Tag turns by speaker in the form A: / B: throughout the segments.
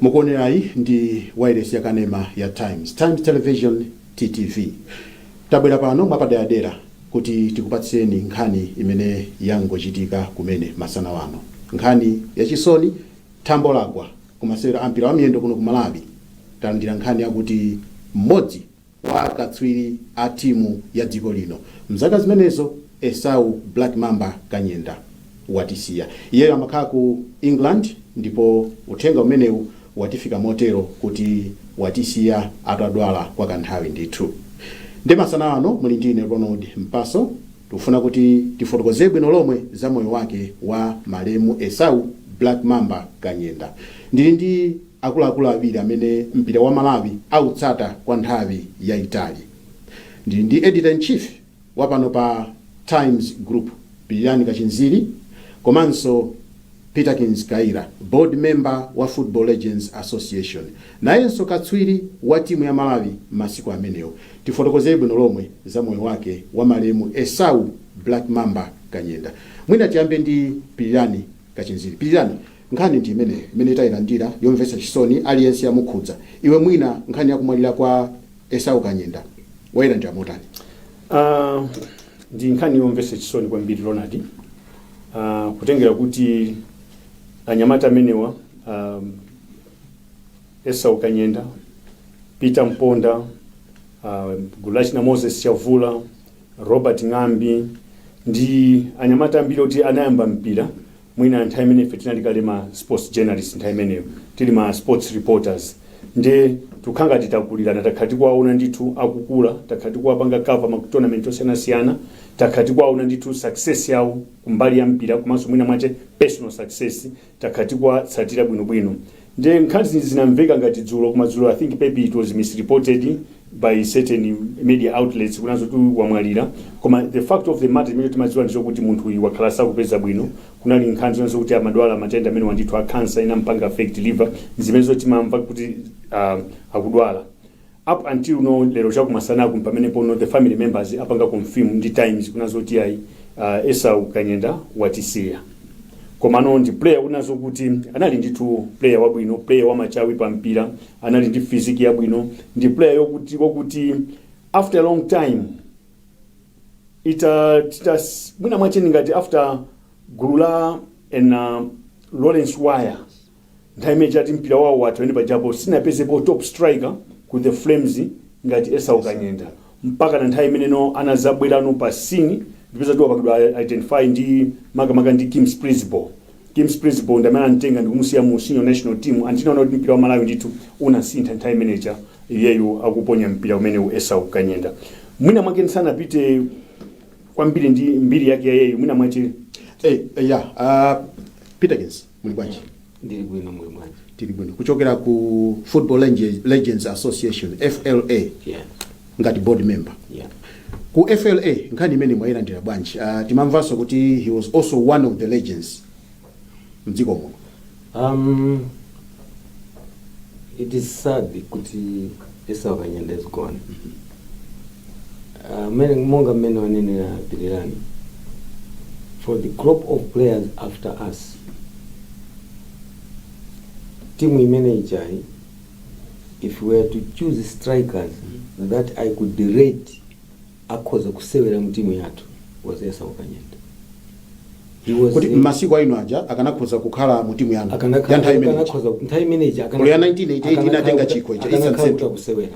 A: mukuonerayi ndi wailesi ya kanema ya times times television ttv tabwera pano mwapaderadera kuti tikupatsireni nkhani imene yangochitika kumene masana wano nkhani yachisoni thambo lagwa kumasewero ampira wa miyendo kuno ku malawi talandira nkhani yakuti mmodzi wa akatswiri a timu ya dziko lino mzaka zimenezo Esau Black Mamba Kanyenda watisiya. Iyeyo amakhala ku England ndipo uthenga umenewu watifika motero kuti watisiya atadwala kwa kanthawi ndithu. Nde masana ano muli ndi ine Ronald Mpaso tikufuna kuti tifotokoze bwino lomwe za moyo wake wa malemu Esau Black Mamba Kanyenda. Ndili ndi. akuluakulu awiri amene mpira wa Malawi autsata kwa nthawi yaitali. Ndili ndi Editor-in-Chief wa pano pa Times Group, Pilirani Kachinziri komanso Peterkins Kayira, Board Member wa Football Legends Association, nayenso katswiri wa timu ya Malawi masiku amenewo. Tifotokozere bwino lomwe za moyo wake wa malemu Esau Black Mamba Kanyenda. Mwina tiyambe ndi Pilirani Kachinziri. Pilirani, Nkhani ndi imeneyo imene tailandira yomvetsa chisoni aliyense yamukhudza. Iwe mwina nkhani ya kumwalira kwa Esau Kanyenda wailandira motani? Uh,
B: ndi nkhani yomvetsa chisoni kwambiri Ronald, uh, kutengera kuti anyamata amenewa um, Esau Kanyenda, Peter Mponda, uh, gulu lachina Moses Chavula, Robert Ng'ambi ndi anyamata ambiri oti anayamba mpira mwina nthawi imene ife tinali kale ma sports journalists nthawi imeneyo tili ma sports reporters ndiye tikukhala ngati takulirana takhala tikuwaona ndithu akukula takhala tikuwapanga cover ma tournament osiyanasiyana takhala tikuwaona ndithu success yawo kumbali ya mpira komanso mwina mwache personal success takhala tikuwatsatira bwinobwino Nde nkhanizi zinamveka ngati dzulo koma dzulo I think maybe it was misreported by certain media outlets kunena zoti wamwalira koma the fact of the matter imene timadziwa ndichokuti munthuyi wakhala asakupeza bwino kunali nkhani zonena zokuti amadwala matenda amenewa ndithu a cancer inampanga affect liver zimenezo timamva kuti ah akudwala Up until now lero chakumasanaku mpamenepono the family members apanga confirm ndi times kunena zoti yayi uh, Esau Kanyenda watisiya komano ndi player kunena zokuti anali ndithu player wabwino player wamachawi pa mpira anali ndi physique yabwino ndi player yokuti wakuti after a long time ita tita mwina mwache ngati after gulu la ana Lawrence Waya nthawi imene chati mpira wawo watha pamene pajapo sitinapezepo top striker ku the flames ngati esau kanyenda mpakana nthawi imene no anazabwerano pa scene ndipeza tiwapakidwa identify ndi makamaka ndi kim splidsboel kim splidsboel ndi amene anamutenga ndikumusiya mu senior national team and tinaona kuti mpira wa malawi ndithu unasintha nthawi imeneja iyeyo akuponya mpira umenewu esau kanyenda mwina mwake ndisanapite kwambiri ndi mbiri yake ya iyeyo mwina mwache Eh, eh, ya ah,
A: peter kins muli bwanji ndili bwino muli
C: bwanji tili bwino kuchokera ku
A: football Lenge- legends association fla yeah
C: ngati board
A: member yeah ku
C: fla
A: nkhani imene mwayilandira bwanji uh, timamvanso kuti he was also one of the legends mdziko muno um
C: it is sad kuti esau kanyenda is gone Amene- monga mmene wanenera pilirani for the crop of players after us timu imene ijayi if we are to choose strikers that i could rate akhoza kusewera mu timu yathu was esau kanyenda He was kuti a- mmasiku aino
A: aja akanakhoza kukhala mu timu yanu akanakha- ya nthawi imeneyi akanakhoza- nthawi imeneyi akanakha- Olo ya 1988 akanakha- inatenga chikho ija, akanakha Eastern Central. kuti akusewera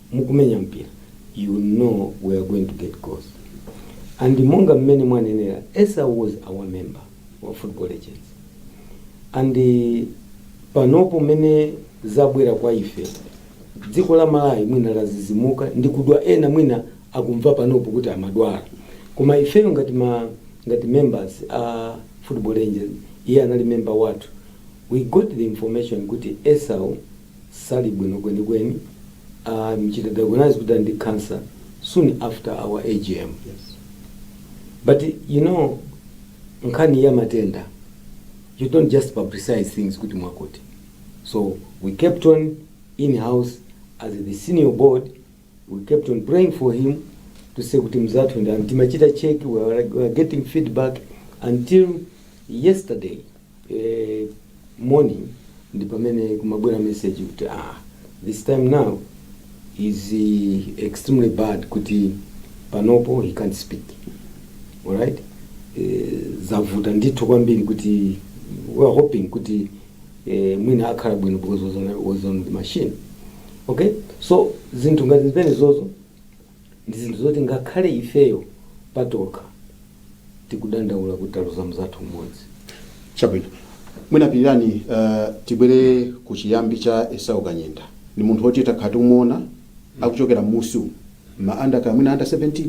C: mukumenya mpira you know we are going to get goals and monga mmene mwanenera esau was our member wa football legends and eh, panopo mmene zabwera kwa ife dziko la malawi mwina ladzidzimuka ndi kudwala ena mwina akumva panopo kuti amadwala koma ifeyo ngati ma ngati members a football legends iye anali member wathu we got the information kuti esau sali bwino kwenikweni amchita diagnose kuti ali ndi cancer soon after our AGM
A: but
C: you know nkhani ya matenda you don't just publicize things kuti mwakuti so we kept it in house as the senior board We kept on praying for him to say kuti mzathu and timachita check we were, we were getting feedback until yesterday eh, morning ndi pamene kumabwera message kuti ah, this time now is eh, extremely bad kuti panopo he can't speak alright eh, zavuta ndithu kwambiri kuti we are hoping kuti eh, mwina akhala bwino because was on, was on the machine okay so zinthu ngati zimenezozo ndi zinthu zoti ngakhale ifeyo patokha tikudandaula kuti taluza mzathu mmodzi
A: chabwino mwina pilirani uh, tibwere ku chiyambi cha esau kanyenda ndi munthu woti takhala tikumuona akuchokera mmusi umu ma under kaya mwina under 17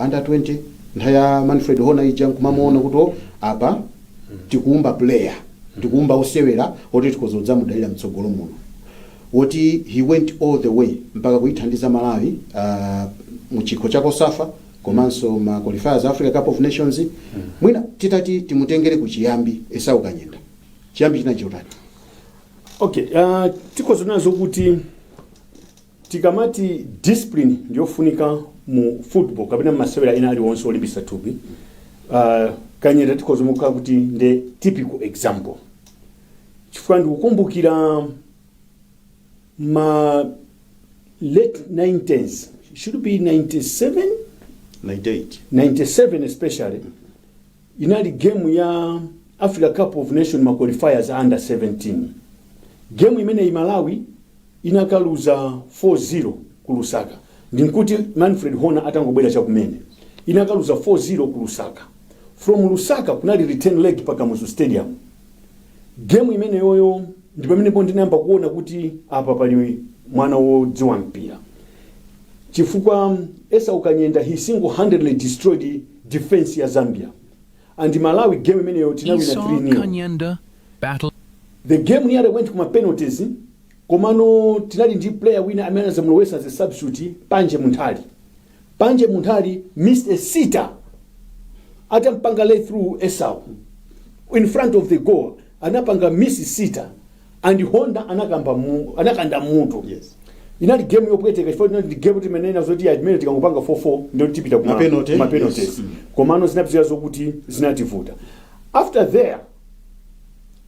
A: under 20 nthawi ya manfred hona ija nkumamuona kuti o, apa tikuumba player tikuumba osewera oti tikhoza kudzamudalira mtsogolo muno woti he went all the way mpaka kuyithandiza malawi uh, mu chikho cha cosafa komanso ma qualifiers a africa cup of nations mwina titati timutengere ku chiyambi esau kanyenda chiyambi china chotani
B: okay uh, tikhoza kunena zokuti tikamati discipline ndiyofunika mu football kapena masewera ena aliwonse olimbisa thupi uh, kanyenda tikhoza kumuika kuti ndi typical example chifukwa ndikukumbukira ma late 90s should be 97 98 97 especially Inali game ya Africa Cup of Nations ma qualifiers a under 17. Game imeneyi Malawi inakaluza 4-0 ku Lusaka. Ndinkuti Manfred Honer atangobwera chakumene. Inakaluza 4-0 ku Lusaka. From Lusaka kunali return leg pa Kamuzu Stadium. game imeneyoyo ndi pamenepo ndinayamba kuona kuti apa pali mwana wodziwa mpira chifukwa esau kanyenda he single handedly destroyed the defense ya zambia and malawi game imeneyo tinawina 3 nil Esau Kanyenda
D: battle the
B: game nearly went kuma penalties komano tinali ndi player wina amene anazamulowesa as a substitute panje munthali Panje Munthali missed a sitter atampanga lay through Esau in front of the goal anapanga miss sitter and Honda anakanda mutu Yes.
A: inali
B: game yopweteka chifukwa inali game timenena zoti ya imene tikangopanga 4-4 ndiye tipita kuma penalties. yes. komano zinapitira zokuti zinativuta after there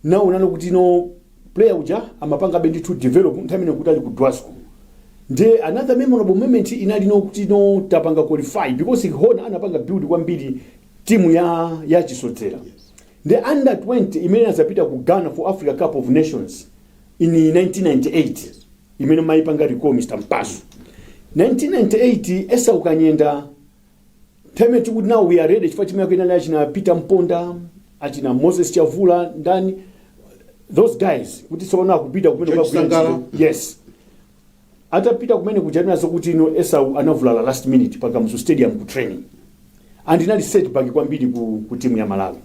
B: ndinaonano kuti no player uja amapangabe ndithu develop nthawi imene nkuti ali ku Dwasco nde another memorable moment inali no kuti no tapanga qualify because Hona anapanga build kwambiri timu ya chisodzera
A: nde under
B: 20 imene inazapita ku Ghana for Africa Cup of Nations in 1998 imene maipanga recall Mr. Mpasu 1998 Esau Kanyenda time tikuti now we are ready chifukwa timu yake inali achina peter mponda achina moses chavula ndani those guys kuti tsopano akupita kumene George Sangala. yes atapita kumene kuja ndiye zokuti no esau anavulala last minute pa kamuzu stadium ku training and inali setback kwambiri ku, ku timu ya malawi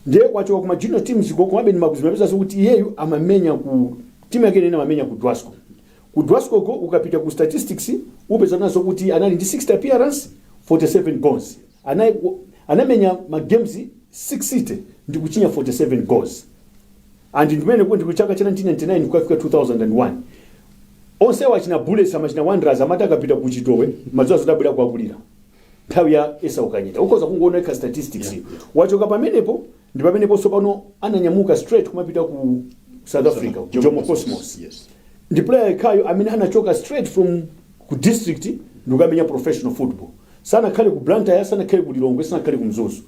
B: ndiye kwachoka kuma junior teams komabe ndimakazimapeza zokuti iyeyu amamenya ku timu yake imene amamenya ku dwasco Ku Dwasco uko ukapita ku statistics upeza nazo kuti anali ndi 60 appearance, 47 goals. Anali anamenya ma games 60 ndikuchinya 47 goals. And ndimene kuti ku chaka cha 1999 kukafika 2001. Onse achina Bullets achina Wanderers amati akapita ku Chitowe amadziwa zoti abwera kuwakulira. Nthawi ya Esau Kanyenda. Ukhoza kungoonetsa statistics. Yeah. Wachoka pamenepo Ndipamenepo tsopano ananyamuka straight kumapita ku South Africa, ku Jomo Cosmos. Yes. Ndi
A: player yekhayo
B: amene anachoka straight from ku district ndikukamenya professional football. Sanakhale ku Blantyre, sanakhale ku Lilongwe, sanakhale ku Mzuzu.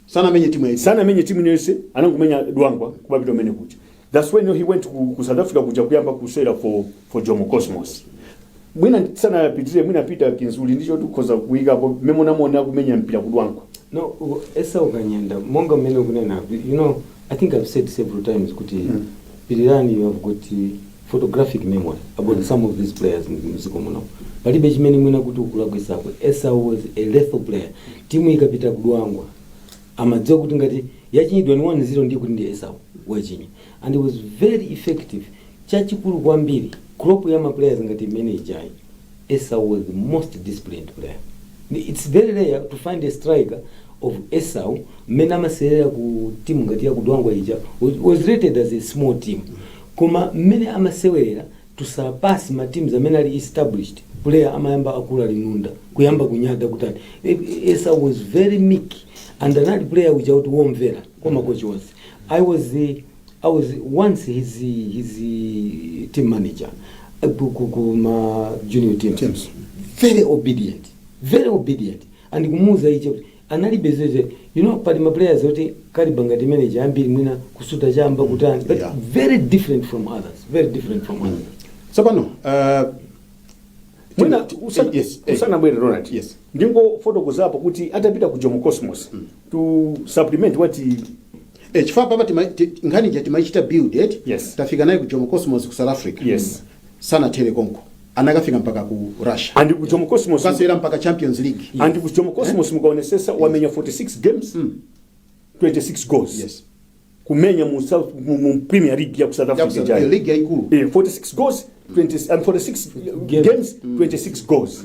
B: Sanamenye
A: timu ya Sana sanamenye timu inayonse anangomenya dwangwa kumapita kumene kuja That's when he went ku, ku South Africa kuja kuyamba kusewera for, for Jomo Cosmos.
B: Mwina tisanapitire mwina Peterkins Kayira ndicho tikhoza kuyikapo momwe munamuona kumenya mpira ku Dwangwako. No, u-
C: Esau Kanyenda, monga mmene ukunena, you know, I think I've said several times kuti Mm. Pilirani you have got uh, photographic memory about some of these players in mdziko muno. Palibe chimene mwina kuti ukulakwitsako Esau was a lethal player. Timu ikapita ku Dwangwa amadziwa kuti ngati yachinyidwa ndi 1-0 ndiye kuti ndi Esau wachinya and he was very effective chachikulu kwambiri crop ya maplayers ngati imene ijayi Esau was the most disciplined player Ni- it's very rare to find a striker of Esau mmene amasewerera ku timu ngati ya ku Dwangwa ija was- was rated as a small team koma mmene amasewerera to surpass ma teams amene ali established player amayamba akula linunda kuyamba kunyada kutani Esau was very meek and anali player uja woti womvera kwa makochi onse i was eh, i was once his his eh, team manager eh, ku- ku- ku ma junior teams, Teams. very obedient very obedient and kumuuza icho analibe zeze you know pali ma players oti caliber ngati imene ija ambiri mwina kusuta chamba kutani but Yeah. very different from others very different from others
A: tsopano
B: uh, mwina Tim- usana- yes, eh, usanabwere Ronald yes. ndingofotokozapo kuti atapita ku Jomo Cosmos to supplement what he- eh,
A: chifukwa apa tima- ti- nkhani ija timaichita build eti Yes. tafika naye ku Jomo
B: Cosmos
A: ku South Africa Yes. sanathere
B: konko
A: anakafika mpaka ku Russia and ku Jomo Cosmos
B: kasera mpaka Champions
A: League and ku Jomo Cosmos
B: mukaonesesa wamenya 46 games 26 goals yes
A: kumenya mu
B: South mu, mu Premier League ya ku South Africa Yakuza- jana league yaikulu
A: eh, 46 goals 20,
B: and 46 games 26 goals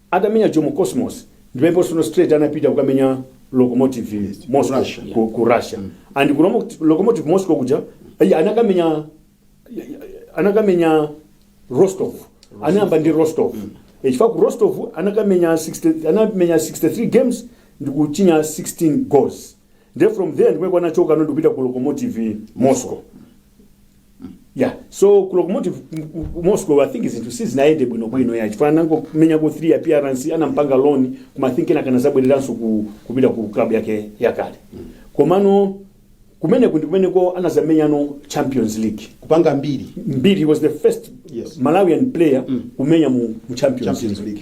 B: Atamenya Jomo Cosmos ndi pamene tsono straight anapita kukamenya Lokomotiv Ku Moscow Russia, yeah. ku, ku Russia and ku Lomo- Lokomotiv Moscow kuja ayi, anakamenya anakamenya Rostov anayamba ndi Rostov Eh, chifukwa ku Rostov anakamenya 60, anamenya 63 games ndi kuchinya 16 goals then from there ndi komwe anachoka no ndikupita ku Lokomotiv Moscow ya so ku locomotive ku- ku- ku moscow i think zinthu sizinayende bwinobwino ya chifukwa anangomenyako 3 appearance anampanga loan koma i think kenaka anazabwereranso ku, kupita ku club yake yakale komano kumeneku ndi kumeneko anazamenyano champions league kupanga mbiri
A: mbiri was the first
B: Yes. malawian player kumenya mu, mu champions, champions league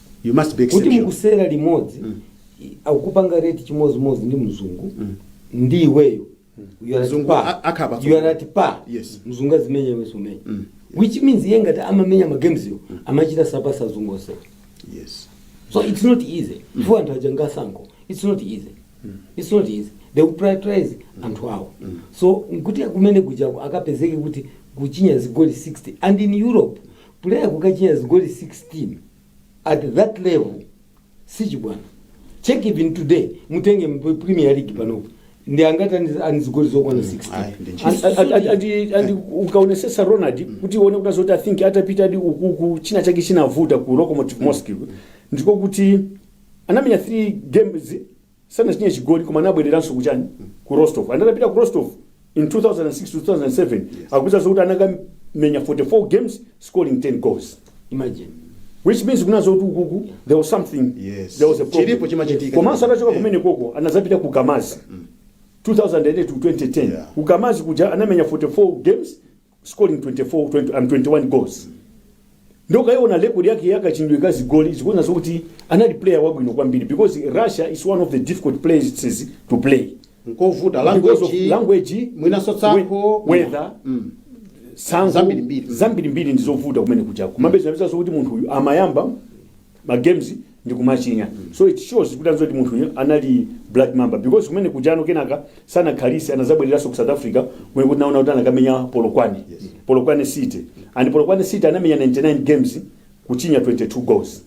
C: you must
A: be kuti exceptional mukusewera
C: limodzi Mm. i- akupanga rate chimodzimodzi ndi mzungu Mm. ndi iweyo You are at Mzungu par. a- akhala patsogolo. You are at par. Yes. mzungu azimenya
A: iwe
C: sumenya Mm. which means iye ngati amamenya ma games-wo amachita surpass azungu onse
A: yes so it's
C: not easy anthu aja ngatsankho it's not easy it's not easy they will prioritize anthu awo so nkuti kumenekujako akapezeke kuti kuchinya zigoli 16 and in europe Player kukachinya zigoli 16 at that level sichibwana. Check even today mutenge mu Premier League panopo. Ndi angati ali, ali ndi zigoli zokwana 16. Ayi, ndi ntchito. Andi- andi- andi- andi-
B: andi ukaonesesa ronald kuti uone kunena zoti i think atapitadi ukuku china chake chinavuta ku locomotive moscow ndiko kuti anamenya 3 games sanachinye chigoli koma anabwereranso kuchani ku rostov and anapita ku rostov in 2006 to 2007 akuwuza zokuti anakamenya 44 games scoring 10 goals imagine
C: which
B: means kunena zoti ukuku there was something Yes. there was a problem
A: Chilipo
B: chimachitika. komanso atachoka
A: Eh. kumenekoko
B: anazapita ku kamaz 2008 to 2010 Yeah. ku kamaz kuja
A: anamenya
B: 44 games scoring 24 20 and 21 goals ndiye ukaiona record yake yakachinyidwe ka zigoli ukuona zokuti anali player wabwino kwambiri because russia is one of the difficult places to play nkovuta
A: because of
B: language language mwinaso tsankho
A: we-
B: weather Mm. tsankho Zambirimbiri. zambirimbiri ndizovuta kumenekujako kumapeza kuti munthu uyu amayamba ma games ndi kumachinya so it shows kunena zoti munthu uyu anali black mamba because kumenekujano kenaka sanakhalise anazabwereranso ku south africa kumene tinaona kuti anakamenya polokwane polokwane city and polokwane city anamenya 99 games kuchinya 22 goals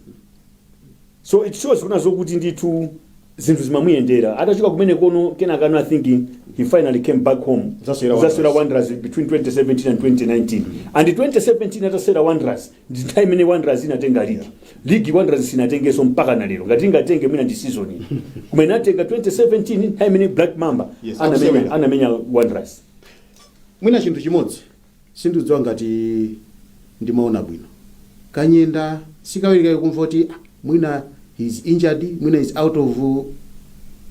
B: so it shows kunena zokuti ndithu zinthu zimamuyendera atachoka kumenekono kenaka no i think he finally came back home Anazasewera Wanderers. anazasewera wanderers between 2017 and 2019 and 2017 atasewera wanderers ndi nthawi imene wanderers inatenga ligi ligi wanderers sinatengeso mpaka na lero ngati ingatenge mwina ndi season iyi koma inatenga 2017 nthawi imene black mamba Yes, anamenya akusewera. anamenya wanderers
A: mwina chinthu chimodzi sindidziwa ngati ndimaona bwino kanyenda sikawirikawiri kumva kuti "Ah, mwina he is injured mwina is out of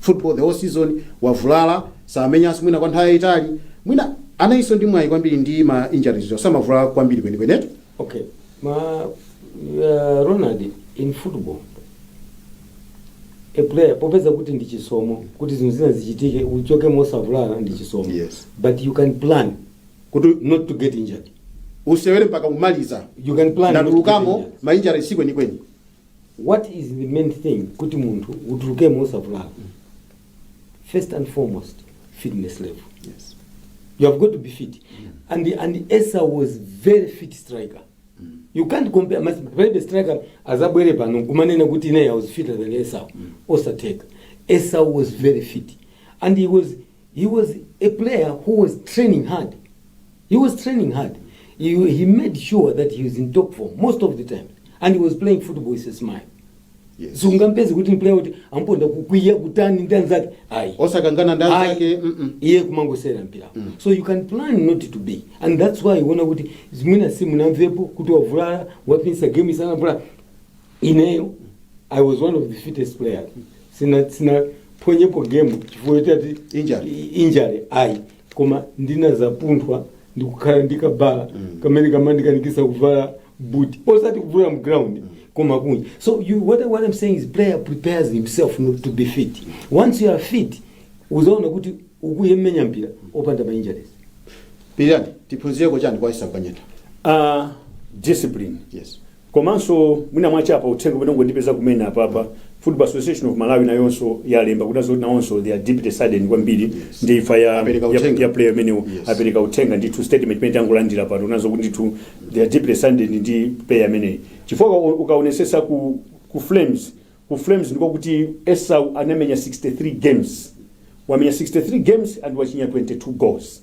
A: football the whole season wavulala samenyanso mwina kwa nthawi yayitali mwina analinso ndi mwayi kwambiri ndi ma injuries chifukwa samavulala kwambiri kwenikwenetu okay
C: ma uh, ronald in football a player popeza kuti ndi chisomo kuti zinthu zina zichitike uchoke mosavulala ndi chisomo Yes. but you can
A: plan
C: kuti not to
A: get
C: injured usewere mpaka
A: umaliza You can plan not to get
C: ndatulukamo injured. mainjara si kwenikweni
A: what is
C: the main thing kuti munthu utulukemo usavulala first and foremost fitness level yes.
A: you have got to
C: be fit and and esa was very fit striker you can't compare mas- palibe striker azabwere pano kumanena kuti ine i was fitter than esau osatheka esau was very fit and he was He was a player who was training hard. He was training hard. He, he made sure that he was in top form most of the time. And he was playing football with a smile. Yes. Sungampezi
A: kuti
C: ndi player kuti amponda kukwiya kutani ndi anzake. Ayi. osakangana ndi Ayi.
A: anzake mm-mm. iye
C: kumangosewera mpira so you can plan not to be and that's why uona kuti mwina simunamvepo kuti wavulala waphonya game sindinavulale ineyo i was one of the fittest players sina sinaphonyepo game chifukwa choti ati Injury. injury ayi koma ndinazapunthwa ndi kukhala ndi kabala kamene kamandikanikisa kuvala buti osati kuvulala mground koma kunja so you, what, I- what i'm saying is player prepares himself not to be fit once you are fit uzaona kuti ukuyemenya mpira opanda ma injuries pilirani
A: tiphunzireko chani kwa esau kanyenda uh, discipline
B: yes Komanso mwina mwachepa uthenga umene wangondipeza kumene apapa Football Association of Malawi nayonso yalemba kuti azoti nawonso they are deeply saddened kwambiri Yes. ndi imfa ya, Apereka ya, uthenga. ya player ameneyu Yes. apereka uthenga ndithu statement imene tangolandira pano nazo kuti ndithu they are deeply saddened ndi player ameneyi chifukwa uka- ukaonesesa ku, ku flames ku flames ndiko kuti esau anamenya 63 games wamenya 63 games and wachinya 22 goals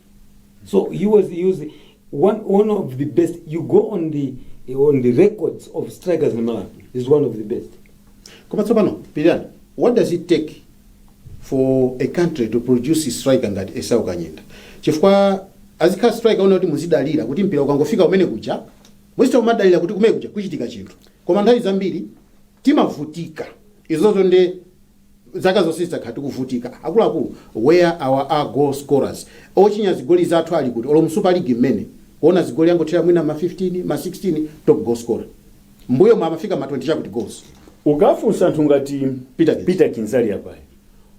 C: So he was he was one one of the best. You go on the on the records of strikers in Malawi. He's one of the best. koma tsopano
A: pilirani what does it take for a country to produce a striker ngati esau kanyenda chifukwa azikhala striker wonena kuti muzidalira kuti mpira ukangofika kumene kuja muzichita kumadalira kuti kumene kuja kuchitika chinthu koma nthawi zambiri timavutika izozo nde zaka zonse tizakhala tikuvutika akuluakulu where are our goal scorers ochinya zigoli zathu ali kuti olo mu super league mmene kuona zigoli zangothera mwina ma 15 ma 16 top goal scorer mbuyomu amafika ma 20 chakuti goals ukafunsa
B: anthu ngati Peterkins. peterkins ali apayi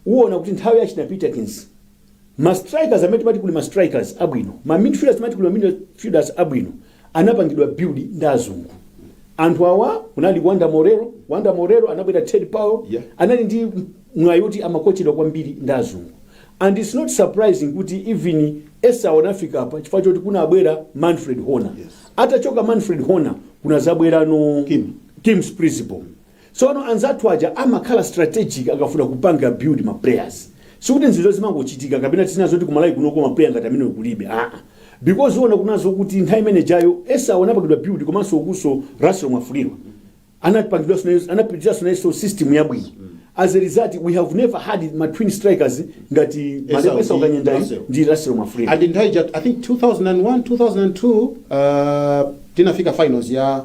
B: uwona kuti nthawi ya achina peterkins Ma strikers amene timati kuli ma strikers abwino, ma midfielders timati kuli ma midfielders abwino anapangidwa build ndi azungu. Anthu awa kunali Wonder Moreira, Wonder Moreira anabwera Ted Powell, Yeah. anali ndi mwayi woti amakochedwa kwambiri ndi azungu. And it's not surprising kuti even Esau anafika apa chifukwa choti kunabwera Manfred Hoener. Yes. Atachoka Manfred Hoener kunazabweranso Kim. Kim Splidsboel. Tsopano anzathu aja amakhala strategic akafuna kupanga build ma players. Sikuti nzizo zimangochitika kapena tisanene zoti ku Malawi kunoko ma player ngati amenewo kulibe aa because uona kuna zokuti nthawi imene ijayo Esau anapangidwa build komanso kunso Russell Mwafulirwa anapangidwanso naye anapitiranso nayenso system yabwino as a result we have never had ma twin strikers ngati Esau Malemu Esau ndi Kanyendayu Russell. ndi Russell Mwafulirwa and nthawi ija i think 2001 2002
A: uh, tinafika finals ya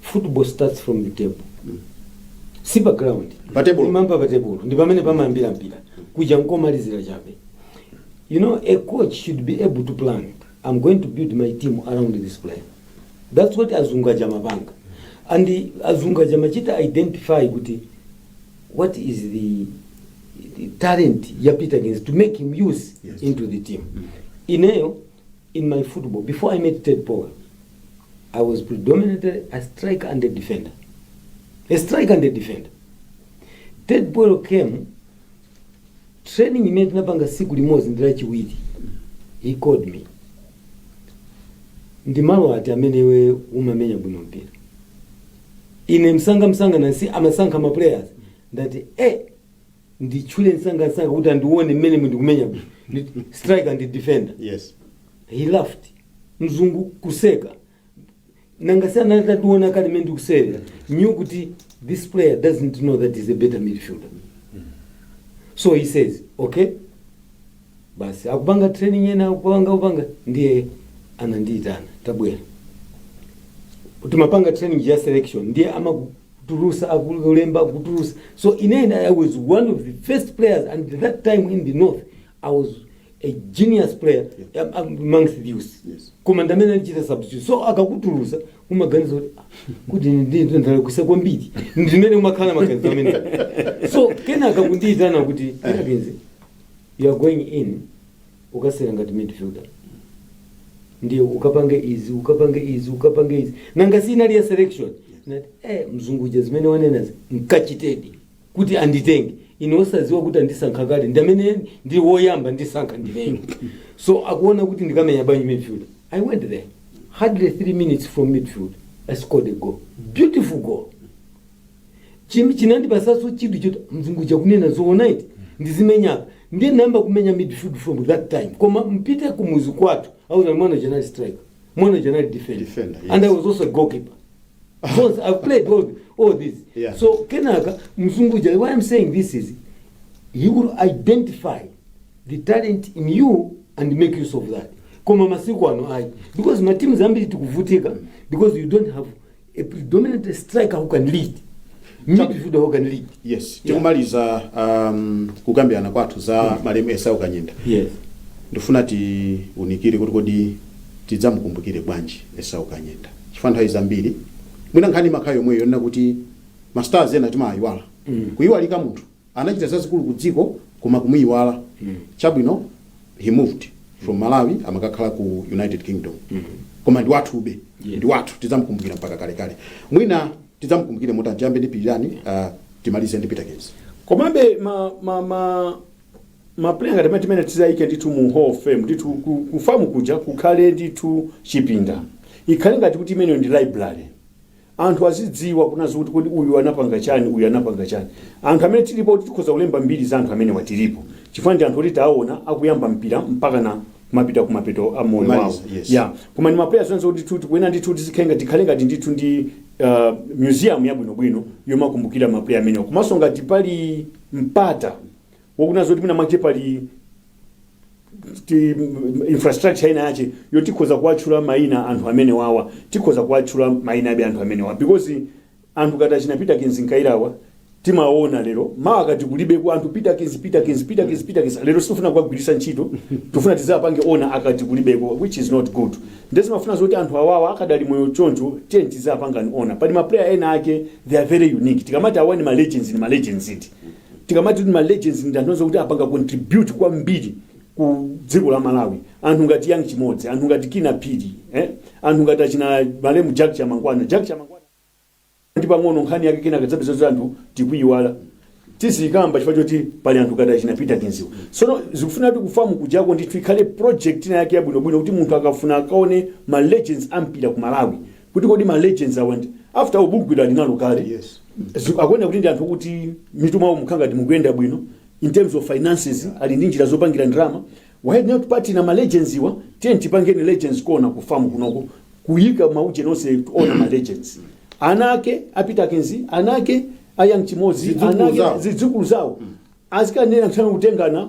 C: Football starts from the table. Si pa ground. Pa table. Timamba pa table. Ndi pamene pamayambira mpira. Kuja nkomalizira chabe. You know, a coach should be able to plan. I'm going to build my team around this player. That's what azungu aja amapanga. And the- azungu aja amachita identify kuti what is the, the talent ya Peter Ginz to make him use Yes. into the team. Ineyo, in my football, before I met Ted Power, I was predominantly a striker and a defender. A striker and a defender. Ted Powell came training imene tinapanga siku limodzi ndi lachiwiri. He called me. Ndi malo ati amene iwe umamenya bwino mpira. Ine msanga msanga nanga si amasankha ma players ndati eh nditchule msangamsanga kuti andione mmene ndikumenya bwino Ndi- striker ndi defender
A: yes he
C: laughed mzungu kuseka nanga si anali atandiona kale mmene ndikusewera knew kuti this player doesn't know that he's a better midfielder so he says okay basi akupanga training ena akupanga kupanga ndiye anandiitana tabwera timapanga training ya selection ndiye amaku- kutulusa akulemba kutulusa so ine i was one of the first players and that time in the north i was a genius player am- am- amongst the youth Yes. koma ndamene andichita substitute so akakutulusa umaganiza kuti "Ah, kuti ndinto ndalakwisa kwambiri ndimene umakhala maganizo amene so kenaka akundiitana kuti "Peterkins, you are going in ukasewera ngati midfielder ndiye ukapange izi ukapange izi ukapange izi nanga si inali ya selection nati eh mzungu uja zimene wanenazi nkachitedi kuti anditenge ine osaziwa kuti andisankha kale ndi amene ndi woyamba ndisankha ndineyo so akuona kuti ndikamenya bwanji midfield i went there hardly three minutes from midfield i scored a goal beautiful goal Chim- chinandipatsanso chidwi choti mzungu uja kunena zoona eti ndizimenya apa ndiye nayamba kumenya midfield from that time koma mpite ku muzi kwathu auza mwana uja anali striker mwana uja anali defender, Defender, yes. and i was also a goalkeeper So I've played all, all this. Yeah. So Kenaka Mzunguja, why I'm saying this is he will identify the talent in you and make use of that. Koma masiku ano ayi because matimu zambiri tikuvutika because you don't have a predominant striker who can lead, midfielder who can lead. yes
A: tikumaliza um, kukambirana kwathu za malemu esau kanyenda Yes.
C: ndifuna
A: tiunikire kuti kodi tidzamukumbukire bwanji esau kanyenda chifukwa nthawi zambiri mwina nkhani imakhala yomweyo yonena kuti mastars ena timawayiwala kuyiwalika munthu Anachita zazikulu ku dziko koma kumuyiwala chabwino he moved from Malawi amakakhala ku United Kingdom koma ndi wathube ndi wathu tidzamukumbukira mpaka kalekale mwina tidzamukumbukire motani tiyambe ndi Pilirani uh, timalize ndi Peterkins komabe
B: ma ma ma mapuleya ngati amene timene tizawayike ndithu mu hall of fame ndithu ku- ku FAM kuja kukhale ndithu chipinda ikhale ngati kuti imeneyo ndi library Anthu azidziwa kunena zokuti kodi uyu anapanga chani, uyu anapanga chani. Anthu amene tilipo kuti tikhoza kulemba mbiri za anthu amenewa tilipo. Chifukwa ndi anthu oti tawaona akuyamba mpira mpakana kumapita kumapeto a moyo wawo. Kumaliza, yes. Yeah. Koma ndi maplayers anzo ndithu tikuyenera ndithu tizikhale ngati tikhale ngati ndithu ndi uh, museum yabwinobwino yomakumbukira maplayer amenewa. Komanso ngati pali mpata wakunena zoti mwina mwache pali ti- m- infrastructure ina yache yo tikhoza kuwatchula maina anthu amenewawa tikhoza kuwatchula maina abe anthu amenewawa because anthu ngati achina peterkins kayirawa timaona lero mawa akati kulibeko anthu peterkins peterkins peterkins peterkins lero sitikufuna kuwagwiritsa ntchito tufuna tizapange honour akati kulibeko which is not good nde zimafuna zoti anthu awawa akadali moyo choncho tiye tizapangani honour pali maplayer ena ake they are very unique tikamati awa ni ma legends ni ma legends iti tikamati kuti ma legends ndi anthu onse kuti apanga contribute kwambiri ku dziko la malawi anthu ngati young chimodzi anthu ngati kinnah phiri eh? anthu ngati achina malemu jack chamangwana jack chamangwana ndi pang'ono nkhani yake kenaka udzapeza kuti anthu tikuyiwala tizikamba chifukwa choti pali anthu ngati achina peterkinsiwa sono zikufuna kuti ku fam kujako ndithu ikhale project ina yake yabwinobwino kuti munthu akafuna akaone ma legends a mpira ku malawi kuti kodi ma legends awa ndi after all bugwira ali nalo kale Yes.
A: Zi- akuoneka kuti ndi
B: anthu kuti mitu mwawo mukhala ngati mukuyenda bwino in terms of finances ali ndi njira zopangira ndalama why not partner na ma legends iwa tiyeni tipangeni legends corner ku fam kunoko kuyika maujeni onse ona ma legends ana ake a peterkins ana ake a young chimodzi Zidzukulu ana ake zawo. zidzukulu zawo azikanena mthano kutengana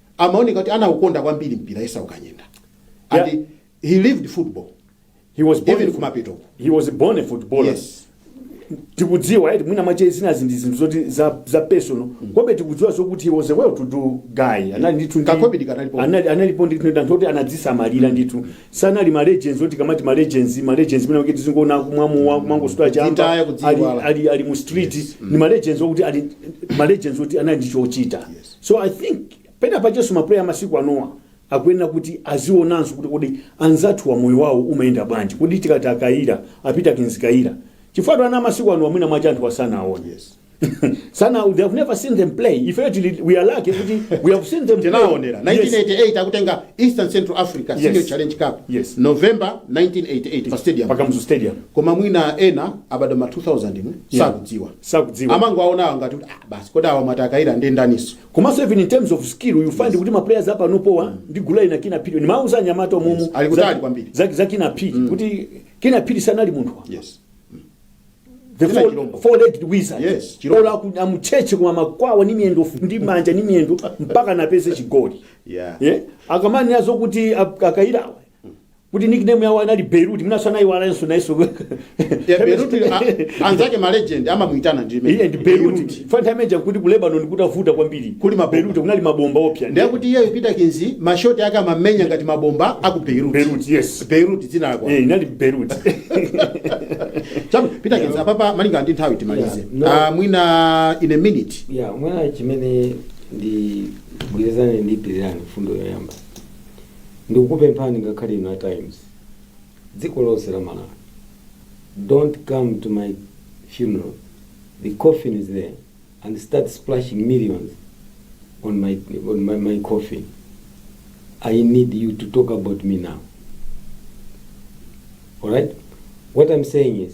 A: amaoneka kuti anaukonda kwambiri mpira esau kanyenda and Yeah. he lived football he was
B: born even a- kumapetoko he was
A: a born a
B: footballer yes
A: tikudziwa
B: eti mwina mwache zinazi ndi zinthu zoti za, za personal komabe tikudziwa zokuti he was a well to do guy anali ndithu ndi- Kakobidi kanalipo.
A: anali analipo ndithu ndi
B: anthu oti anadzisamalira ndithu sanali ma legends oti tikamati ma legends ma legends mwina kuti tizingoona kumwa mowa kumangosuta chamba Kudzitaya, kudziiwala. ali, ali, ali mu street Yes. ni ma legends okuti ali ma legends oti anali ndi chochita Yes. So I think pena pachenso mapuleya amasiku anowa akuyenera kuti azionanso kuti kodi anzathuwa moyo wawo umayenda bwanji kodi tikati akayira a peterkins kayira chifukwatu ana amasiku anowa mwina mwache anthuwa sanawaone Yes.
A: sana they
B: have never seen them play ifeyo tili we are lucky kuti we have seen them play. tinaonera
A: Yes. 1988 akutenga eastern central africa Yes. senior challenge cup Yes. november 1988 pa stadium pa kamuzu stadium koma
B: mwina ena
A: abadwa ma 2000 mu Yeah. sakudziwa sakudziwa amangowaona awo ngati kuti ah, basi kodi awa mwati akayira ndi ndaninso komanso even in
B: terms of skill you find kuti ma players apanopawa ndi gulu la achina kinnah phiri nimauza anyamata omumu Yes, ali kutali kwambiri. za,
A: za kinnah phiri
B: kuti kinnah phiri sanali munthu wa yes the Kina four, chilombo. four legged wizard Yes, chilombo. olo aku- amutchetche koma amakwawa ni miyendo ndi manja ni miyendo mpakana apeze chigoli yeah yeah. akamanena zokuti akayira kuti nickname yawo anali beirut mwinanso anayiwalanso nayenso Yeah,
A: Beirut, a- anzake ma legend amamuitana ndi imene. iye ndi beirut pa
B: nthawi imene ija kuti ku lebanon kutavuta kwambiri Kuli mabomba. beirut kunali
A: mabomba oopsa
B: ndiye kuti iyeyo
A: Peterkins mashoti ake amamenya ngati mabomba aku beirut beirut yes beirut
B: dzina lako
A: Eh, inali beirut chabwino Peterkins apapa malinga ndi nthawi timalize Yeah, no. Ah, mwina in a minute ya mwina chimene
C: ndi gwirizane ndi pirirani mfundo yoyamba ndikukupemphani ngakhale inu a times dziko lonse la malawi dont come to my funeral the coffin is there and start splashing millions on my, on my, my coffin i need you to talk about me now alright what i'm saying is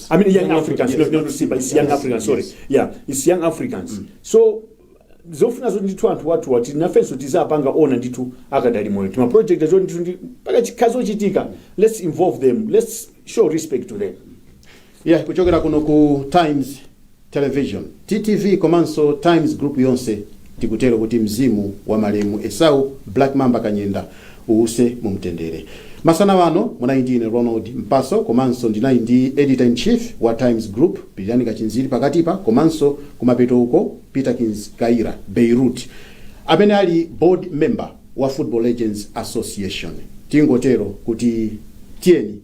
A: I mean, young, Young Africans, Africans,
B: not, not yes. Simba, it's young
A: Yes,
B: Africans, sorry. yes. Yeah, it's
A: young
B: Africans. So, zofuna zoti ndithu anthu athu ati nafenso tizapanga honour ndithu akadali moyo tima project azo ndithu mpaka zikazachitika let's involve them let's show respect to them yeah kuchokera
A: kuno ku times Television, TTV komanso Times Group yonse tikutero kuti mzimu wa malemu Esau Black Mamba Kanyenda uwuse mumtendere. Masana wano munali ndi ine Ronald Mpaso komanso ndinali ndi Editor in Chief wa Times Group Pilirani Kachinziri pakatipa komanso kumapeto uko Peterkins Kayira, Beirut, amene ali Board Member wa Football Legends Association. Tingotero kuti tiyeni!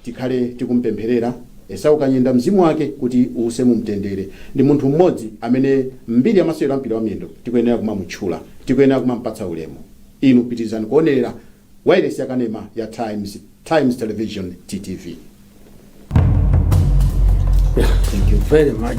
A: tikhale tikumupempherera Esau Kanyenda mzimu wake kuti uuse mu mtendere. Ndi munthu mmodzi amene m'mbiri ya masewero a mpira wa miyendo tikuyenera kumamutchula, tikuyenera kumampatsa ulemu. Inu pitirizani kuonelera wailesi ya kanema ya Times, Times Television, TTV.
C: Yeah,
A: thank you very
C: much.